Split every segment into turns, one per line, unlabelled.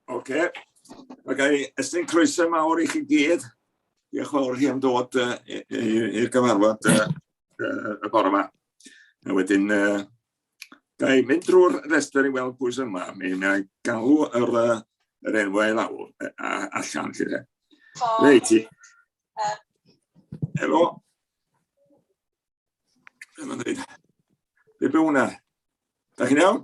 Oce. Mae gen i ystyn croeso mawr i chi gyd. Diolch fawr chi am dod uh, i'r gyfarfod uh, uh, y bore yma. A wedyn, uh, da i mynd drwy'r restr i weld pwy sy'n yma. Mi na i galw yr, uh, yr enwau i lawr a, allan chi dde. Reit i. Helo. Dyma ddweud. Be be hwnna? Da chi'n iawn?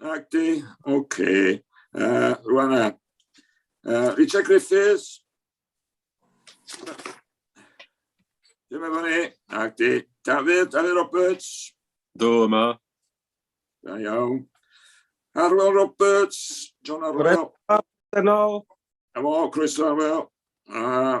Ac di, oce. Okay. Uh, rwan e. Uh, Richard Griffiths. Dim efo ni. Ac di, Dafydd, Dafydd Roberts. Do yma. Da iawn. Arwel Roberts, John Arwel. Dyna. Efo, croeso Arwel. Uh,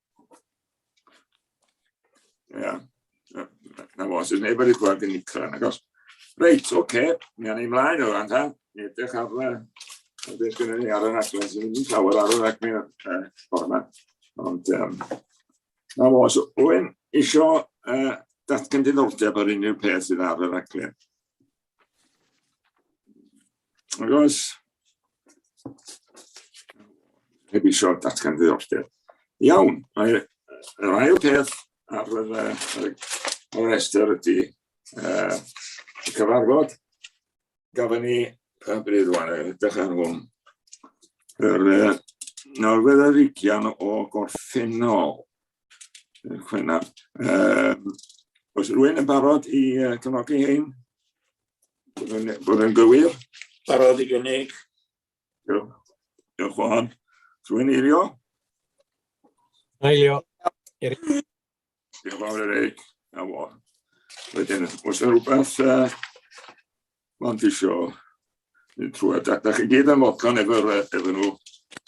Ia. Na fo, sy'n neb wedi gweld yn nicra, na gos. Reit, oce, okay. mi anna i mlaen o fan ta. Mi edrych ar y... Ar beth gyda ni ar y rhaglen sy'n mynd i llawer ar y rhaglen o'r ffordd yma. Ond, um, na fo, so, Owen, isio uh, datgan diddordeb ar unrhyw peth sydd ar y rhaglen. Ac oes, heb eisiau datgan ddiddordeb. Iawn, mae'r yr ail peth ar y, ar y, ar y restr ydy uh, y cyfarfod. Gafon ni, pa bryd rwan, edrych ar hwn. Yr, uh, nawr fydd yr ugian o gorffennol Chwe na. Um, oes rwy'n yn barod i uh, cyfnogi hyn? Bod yn gywir? Barod i gynnig. Diolch. Diolch o hon. Rwy'n eilio? Eilio. Diolch fawr Eric. A fo. Wedyn, oes yna rhywbeth uh, Mond isio mynd trwy a data chi gyd am fodlon efo nhw.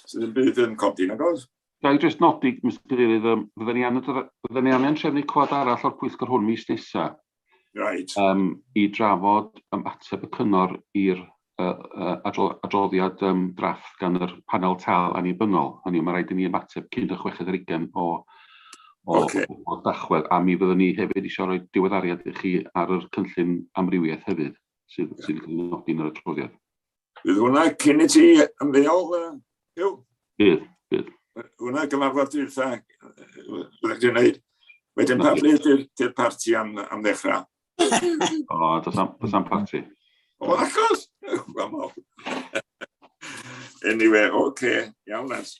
Sydd ddim byd yn codi, nag oes? Ga i jyst nodi, Mister Cadeirydd, yym fydden ni angen fydden ni angen trefnu cwad arall o'r pwyllgor hwn mis nesa. Reit. Yym i drafod yym ateb y cyngor i'r yy yy adro, adroddiad yym drafft gan yr panel tâl annibynnol. Hynny yw, mae rhaid i ni ymateb cyn y chweched ar ugain o o, okay. o, o dachwedd, a mi fyddwn ni hefyd eisiau rhoi diweddariad i chi ar yr cynllun amrywiaeth hefyd, sydd, sydd yn nodi yn yr adroddiad. Bydd hwnna cyn i ti ymddeol, Hugh? Bydd, bydd. Hwna gyfarfod dwytha, byddwch chi'n gwneud. Wedyn pa bryd i'r parti am, am ddechrau? o, does am, does am parti. O, achos! Anyway, oce, okay. iawn, lads.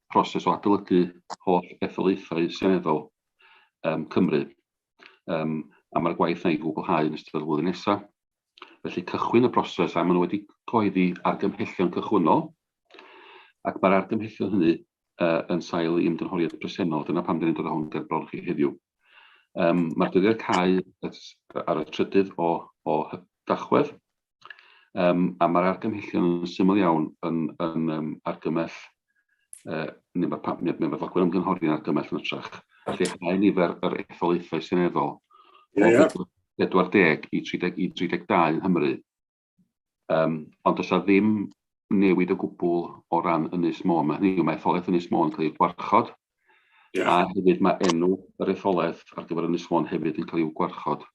proses o adolygu holl etholaethau seneddol um, Cymru. Um, a mae'r gwaith yna i gwblhau yn ystod y flwyddyn nesaf. Felly cychwyn y broses a maen nhw wedi coeddi argymhellion cychwynnol ac mae'r argymhellion hynny uh, yn sail i ymgynghoriad presennol. Dyna pam dyn ni'n dod â hwn ger bron chi heddiw. Um, mae'r dyddiad cael ar y trydydd o, o dachwedd Um, a mae'r argymhellion yn syml iawn yn, yn um, argymell, uh, neu mae, pa, mae, mae fodlogwyr ymgynghori yn argymell yn ytrach, lleihau nifer yr etholaethau seneddol yeah, yeah. 40 i 30, i 32 yn Nghymru. Um, ond does ddim newid o gwbl o ran Ynys Môn. Mae hynny, mae etholaeth Ynys Môn yn cael ei gwarchod, yeah. a hefyd mae enw yr etholaeth ar gyfer Ynys Môn hefyd yn cael ei gwarchod.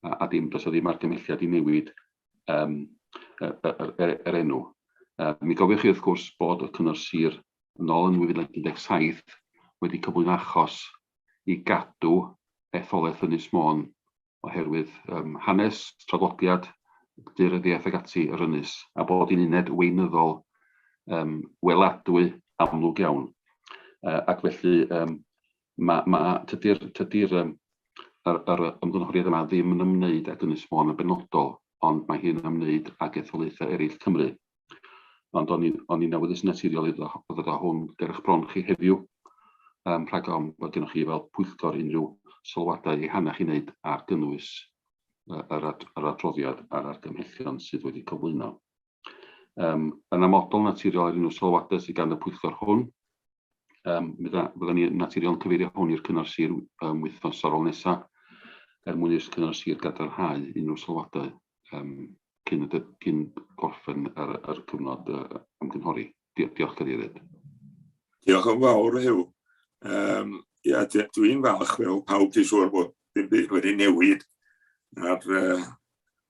a, a dim, does o ddim argymelliad i newid um, yr, yr, yr, yr enw. Uh, mi gofiwch chi wrth gwrs bod y cyngor sir yn ôl yn 2017 wedi cyflwyn achos i gadw etholaeth Ynys Môn oherwydd um, hanes, traddodiad, dyryddiaeth ag ati yr ynys, a bod hi'n uned weinyddol um, weladwy amlwg iawn. Uh, ac felly, um, ma, ma, tydi'r tydi yr, yr, yr ymgynghoriad yma ddim yn ymwneud ag Ynys Môn yn benodol, ond mae hi'n ymwneud ag etholaethau eraill Cymru. Ond o'n i'n o'n i'n awyddus yn naturiol i ddod â hwn ger eich bron chi heddiw, um, rhag ofn bod gennych chi fel pwyllgor unrhyw sylwadau ehangach i wneud ar gynnwys yr, ad, yr adroddiad a'r argymhellion sydd wedi cyflwyno. Yn amodol, naturiol ar unrhyw sylwadau sydd gan y pwyllgor hwn, fyddan ni naturiol yn cyfeirio hwn i'r cyngor sir wythnos ar ôl nesaf, er mwyn i'r cyngor sir gadarnhau unrhyw sylwadau cyn gorffen yr cyfnod ymgynghori. Diolch, Cadeirydd. Diolch yn fawr, Huw. Ia, dwi'n falch fel pawb dwi'n siŵr bod dim byd wedi newid ar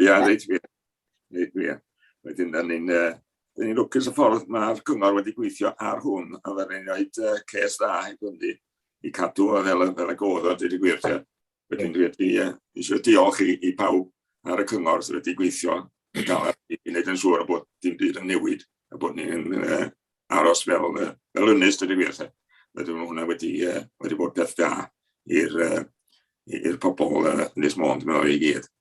Ia, yeah, reit wir. Reit wir. Wedyn, da ni'n uh, ni lwcus y ffordd mae'r cyngor wedi gweithio ar hwn, a da ni'n rhoi uh, ces dda i gwndi i cadw o fel, fel y godd o dweud y gwir. Te. Wedyn, dwi wedi uh, eisiau diolch i, i pawb ar y cyngor sydd wedi gweithio yn gael i wneud yn siŵr bod dim byd yn newid a bod ni'n uh, aros fel, uh, fel ynnes dweud y gwir. Te. Wedyn, mae hwnna wedi, uh, wedi bod peth da i'r uh, i'r pobl uh, Ynys Môn, dwi'n meddwl i gyd.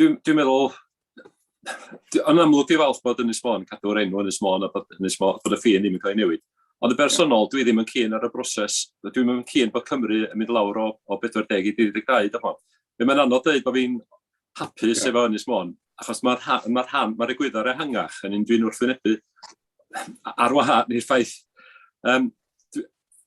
Dwi'n dwi meddwl, yn amlwg dwi'n falch bod Ynys Môn, cadw'r enw Ynys Môn a bod, Ynys Môn, bod y ffin ddim yn cael ei newid. Ond y bersonol, dwi ddim yn cyn ar y broses, dwi'n yn cyn bod Cymru yn mynd lawr o, o 40 i 32, dych chmod. Fe mae'n anodd dweud bod fi'n hapus yeah. efo Ynys Môn, achos mae'r rha, ma rhan, mae'r egwyddor ehangach yn un dwi'n wrthwynebu ar wahân i'r ffaith. Um,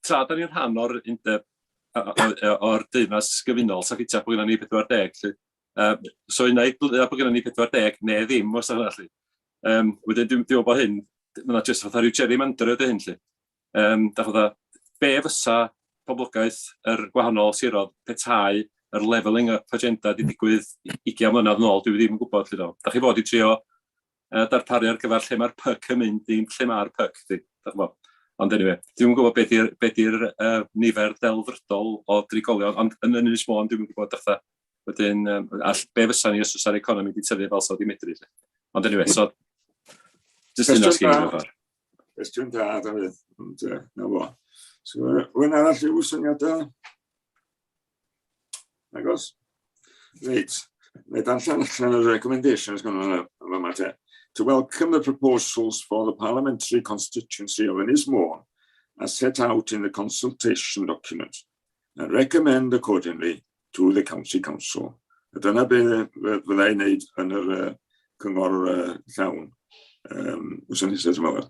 tra, da ni'n rhan o'r undeb o'r deyrnas gyfunol, sa'n ffitio bod gyda ni 40, lle, Uh, so unai bod gennym ni 40 neu ddim os yna chi. Um, wedyn dwi'n meddwl bod hyn, mae'n just fatha rhyw Jerry Mander ydy hyn chi. Um, da fatha, be fysa poblogaeth yr gwahanol sirodd petai yr leveling up agenda di digwydd 20 mlynedd yn ôl, dwi ddim yn gwybod chi do. Da chi fod i trio uh, darparu ar gyfer lle mae'r pyc yn mynd, ddim lle mae'r pyc, ddim, da chymod. Ond anyway, dwi'n gwybod beth yw'r be di uh, nifer delfrydol o drigolion, ond yn yn Ynys Môn dwi'n gwybod ddechrau. Wedyn, um, all, be fysa ni os oes ar economi wedi tyfu fel so di medru. Lle. Ond anyway, so, jyst yn asgyn i'n gyfer. Cwestiwn da, Dafydd. Ond, uh, na fo. So, wy'n arall i'w syniadau? Agos. Reit. Mae darllen allan y recommendations gan hwnna yn fama te. To welcome the proposals for the parliamentary constituency of Ynys Môn as set out in the consultation document and recommend accordingly to the County Council. A dyna be fydda i'n neud yn yr uh, cyngor uh, llawn um, wrth yn nesaf, dwi'n meddwl.